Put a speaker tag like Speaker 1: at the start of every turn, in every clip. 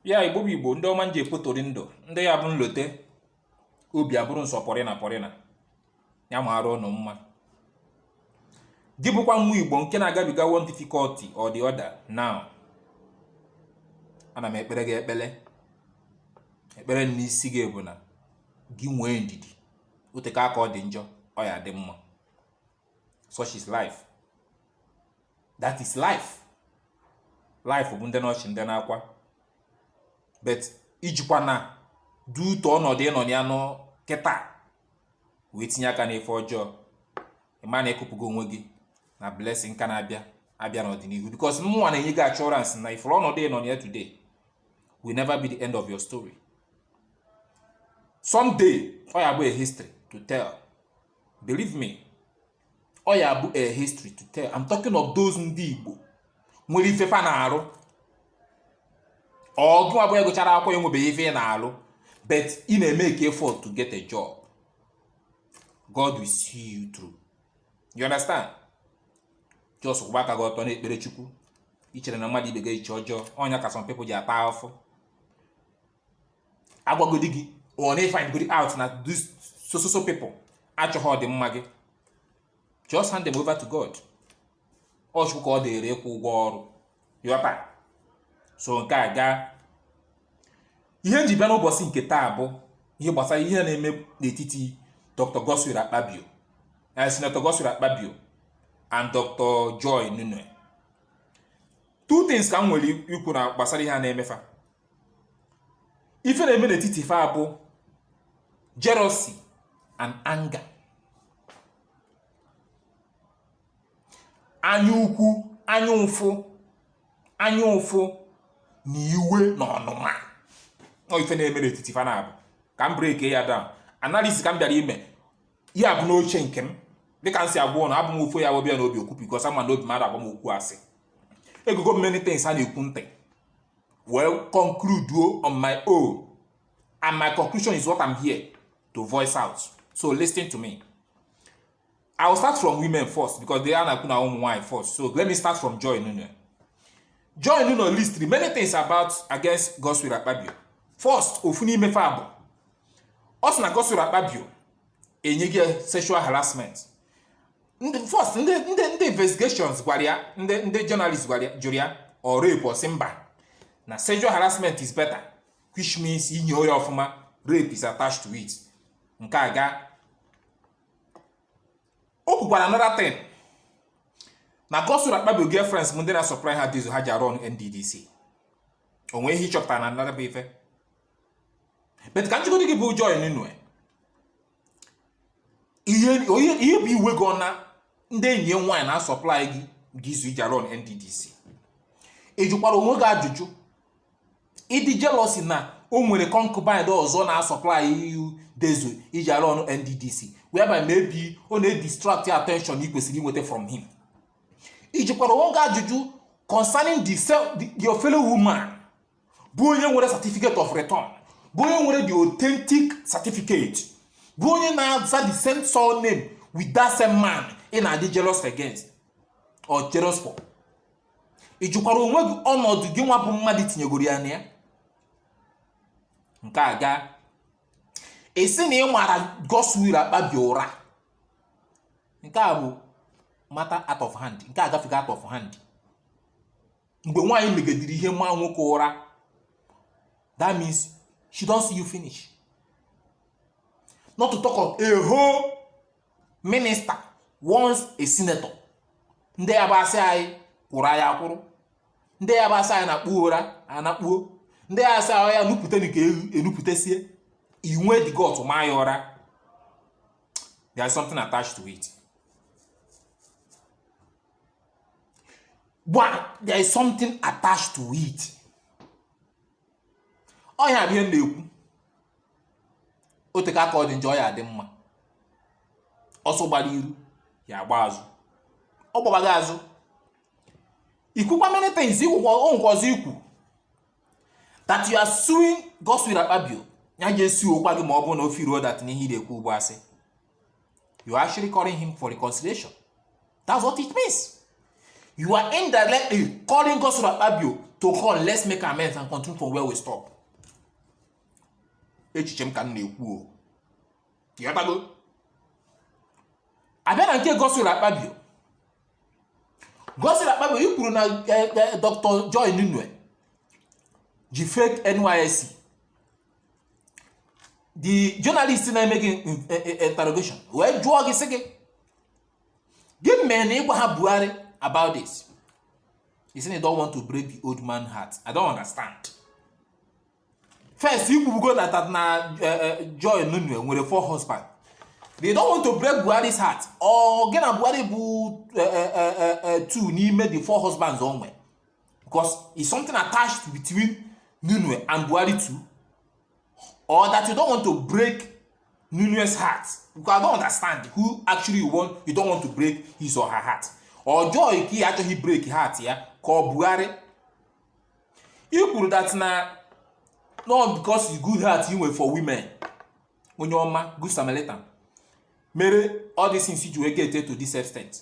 Speaker 1: ya igbo bụ igbo ndị ọma m ji ekpotori ndụ ndị ya bụ m lote obi abụrụ m sọ pọrịna pọrịna ya mara ụnụ mma gị bụkwa nwa igbo nke na-agabiga one difficulty or the other now ana m ekpere gị ekpere ekpere n'isi gị bụ na gị nwee ndidi o teka aka ọ dị njọ ọ ya-adị mma such is life that is life life bụ ndị n'ọchị ndị n'akwa but ijikwana due to ọnọdụ ị nọ ya nọ kịta wee tinye aka n'ife ọjọọ ị ma na ị kụpụgo onwe gị na blessing ka na-abịa abịa n'ọdịnihu because mụnwa na-enye gị assurance na ị fụrụ ọnọdụ ị nọ ya today will never be the end of your story someday ọ ya-abụ a history to tell believe me ọ ya-abụ a history to tell I'm talking of those ndị Igbo nwere ife fa na-arụ or gịwa bụ gụchara akwụkwọ enwebeghị ife ị na-arụ but ị na-emake effort to get a job God will see you through you understand just kwụba aka gị ọtọ na-ekpere Chukwu icherena mmadụ ibe gị eche ọjọọ ọ nya ka some people ji ata afụfụ agwagodi gị or na ị find godi out na this so so so people achọghị ọdịmma gị just hand them over to God ọ Chukwu ka ọ dịrị ịkwụ ụgwọ ọrụ yọta so nke a gaa ihe m ji bịa n'ụbọchị nke taa bụ ihe gbasara ihe na-eme n'etiti Dr. Godswill Akpabio na eh, Senator Godswill Akpabio and Dr. Joy Nunieh two things ka m nwere ikwu na gbasara ihe a na-eme fa ife na-eme n'etiti fa bụ jealousy and anger anya ukwu anya ụfụ anya ụfụ na iwe na ọnụma ọ ife na-eme n'etiti fa naabọ ka m break ya down analysis ka m bịara ime ya bụ n'uche nke m dịka m si agwa ụnụ abụ m ofu ya webịa n'obi okwu because ama na obi m ada agwa m okwu asị egego m many things a na-ekwu ntị wee conclude on my own and my conclusion is what I'm here to voice out so listen to me I will start from women first because they are na-ekwu na ụmụ nwaanyị first so let me start from Joy Nuno Joy Nuno list many things about against Godswill Akpabio first ofu n'ime fa bụ ọ sị na Godswill Akpabio enye gị sexual harassment ndị first ndị ndị ndị investigations gwara ya ndị ndị journalist gwara ya jụrụ ya ọ rape ọ sị mba na sexual harassment is better which means i nyoo nya ọfụma rape is attached to it nke a ga o kwukwara another thing na Godswill Akpabio girlfriends ndị na-supply ha diesel ha ji arụ ọrụ NDDC o nwee ihe ị chọpụtara na another bụ ife but ka m jụgodi gị bụ Joy Nunieh ihe onye ihe bụ iwe gị ọ na ndị enyi ya nwaanyị na-asupply diesel iji arụ NDDC ị jụkwara onwe gị ajụjụ ị dị jealous na o nwere concubine ọzọ na-asupply diesel iji arụ ọrụ NDDC whereby maybe ọ na-edistract your attention ị kwesịrị inweta from him ị jụkwara onwe gị ajụjụ concerning the, se- the, your fellow woman bụ onye nwere certificate of return bụ onye nwere the authentic certificate bụ onye na-aza the same surname with that same man ị na-adị jealous against or jealous for ị jụkwara onwe gị ọnọdụ gị nwa bụ mmadụ tinyegoro ya na ya nke a ga-asị na ị mara Godswill Akpabio ụra nke a bụ matter out of hand nke a gafego out of hand mgbe nwaanyị megedere ihe maa nwoke ụra that means she don see you finish not to talk of a whole minister once a senator ndị ya bụ a sị anyị kwụrụ anyị akwụrụ ndị ya bụ a sị anyị nakpuru anakpuo ndị ya bụ a sị anyị nupụta nke enupụtasie i nwee the gut maa ya ụra there is something attached to it But there is something attached to it. Ọ ya bụ ihe m na-ekwu o teka aka ọ dị njọ ọ ya-adị mma ọsọ gbara iru ya agba azụ ọ gbabaga azụ ikwukwa many things ikwukwa o nkwa ọzọ ikwu that you are suing Godswill Akpabio ya ga-esuokwa gị ma ọ bụrụ na o feeluo that na ihe ị na-ekwu bụ asị You are actually calling him for reconciliation. That's what it means. You are indirectly calling God- Godswill Akpabio to call, let's make amends and continue from where we stop. Echiche m ka m na-ekwu o. Ya gbago. A bịa na nke Godswill Akpabio. Godswill Akpabio i kwuru na eh, eh, Dr. Joy Nunieh ji fake NYSC the journalist na-eme gị e, e, interrogation wee jụọ gị sị gị gịnị mere na ị gwaha Buhari about this he said he don't want to break the old man heart I don't understand first i kwubugo na that na e, Joy Nunieh nwere four husband they don't want to break Buhari's heart ọ gị na Buhari bụ two n'ime the four husbands o nwere because it's something attached between Nunue and Buhari too or that you don't want to break Nunue's heart because I don't understand who actually you want you don't want to break his or her heart or joy ka ị achọghị break heart ya ka ọ Buhari i kwuru that na not because you good heart you nwere for women onye ọma good Samaritan mere all these things ji wee get to this extent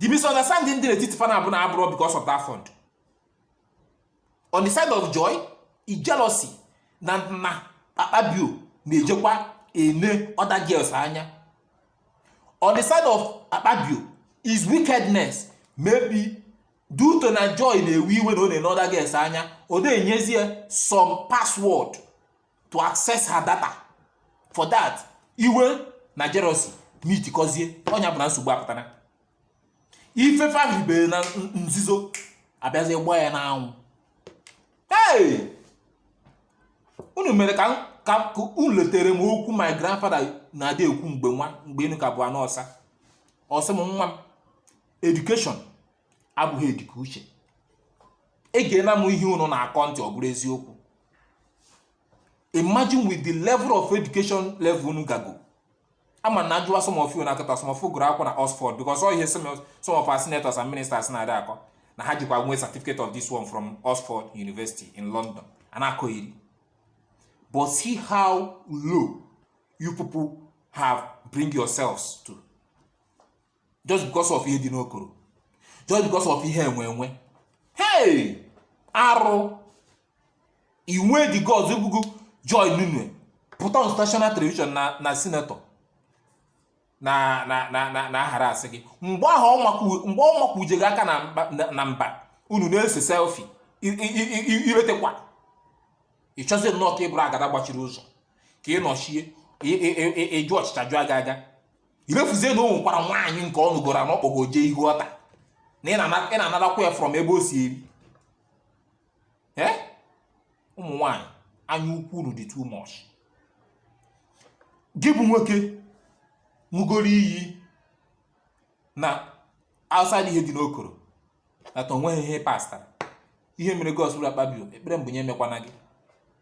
Speaker 1: the misunderstanding dị n'etiti fa naabọ na abụrọ because of that fund on the side of joy is jealousy na na akpabio na-ejekwa ene other girls anya on the side of akpabio is wickedness maybe due to na joy na-ewe iwe na ọ na-ene other girls anya ọ na-enyezie some password to access her data for that iwe na jealousy meetikọzie ọnụ ya bụ na nsogbu apụtara ife fa mebere na nzuzo abịazi gbaa ya n'anwụ hey! unu mere ka ka unu letere m okwu my grandfather na-adị ekwu mgbe nwa mgbe enu ka bụ ana ọsa ọ sị m nwa m education abụghị edike uche egena m ihe unu na-akọ ntị ọ bụrụ eziokwu imagine with the level of education level unu gago ama na ajụwa some of you na akọta some of you gụrụ akwụkwọ na Oxford because all ihe some of some of our senators and ministers na-adị akọ na ha jikwa nwee certificate of this one from Oxford University in London a na-akọ iri but see how low you people have bring yourselves to just because of ihe dị n'okoro just because of ihe enwe enwe hey arụ i nwee the guts bụ gị joy nunieh pụta on national television na na senator na na na na na-aharass gị mgbe ahụ ọ makwu- mgbe ọ makwuje gị aka na mba- na- na mba unu na-ese selfi i retekwa ị chọzie nnọọ ka ị bụrụ agada gbachiri ụzọ ka ị nọchie ị- ị- ị- ị- ịjụ ọchịcha jụọ aga aga i refuzie na o nwekwara nwaanyị nke ọ nụgoro na ọ kpọgo jee ihu altar na ị na-anarakwa ya from ebe o si eri ee ụmụ nwaanyị anya ukwu unu dị too much gị bụ nwoke ṅụgoro iyi na outside ihe dị n'okoro ata o nweghị ihe pastara ihe mere godswill akpabio ekpere m bụ nya emekwana gị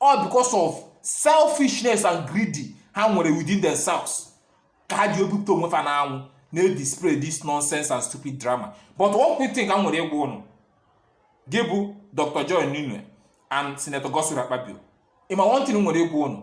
Speaker 1: all because of selfishness and greedy ha nwere within themselves ka ha ji ebupụta onwe fa n'anwụ na-edisplay this nonsense and stupid drama but one quick thing ka m nwere ịgwa unu gị bụ dr joy nunieh and senator godswill akpabio ị ma one thing m nwere ịgwa unu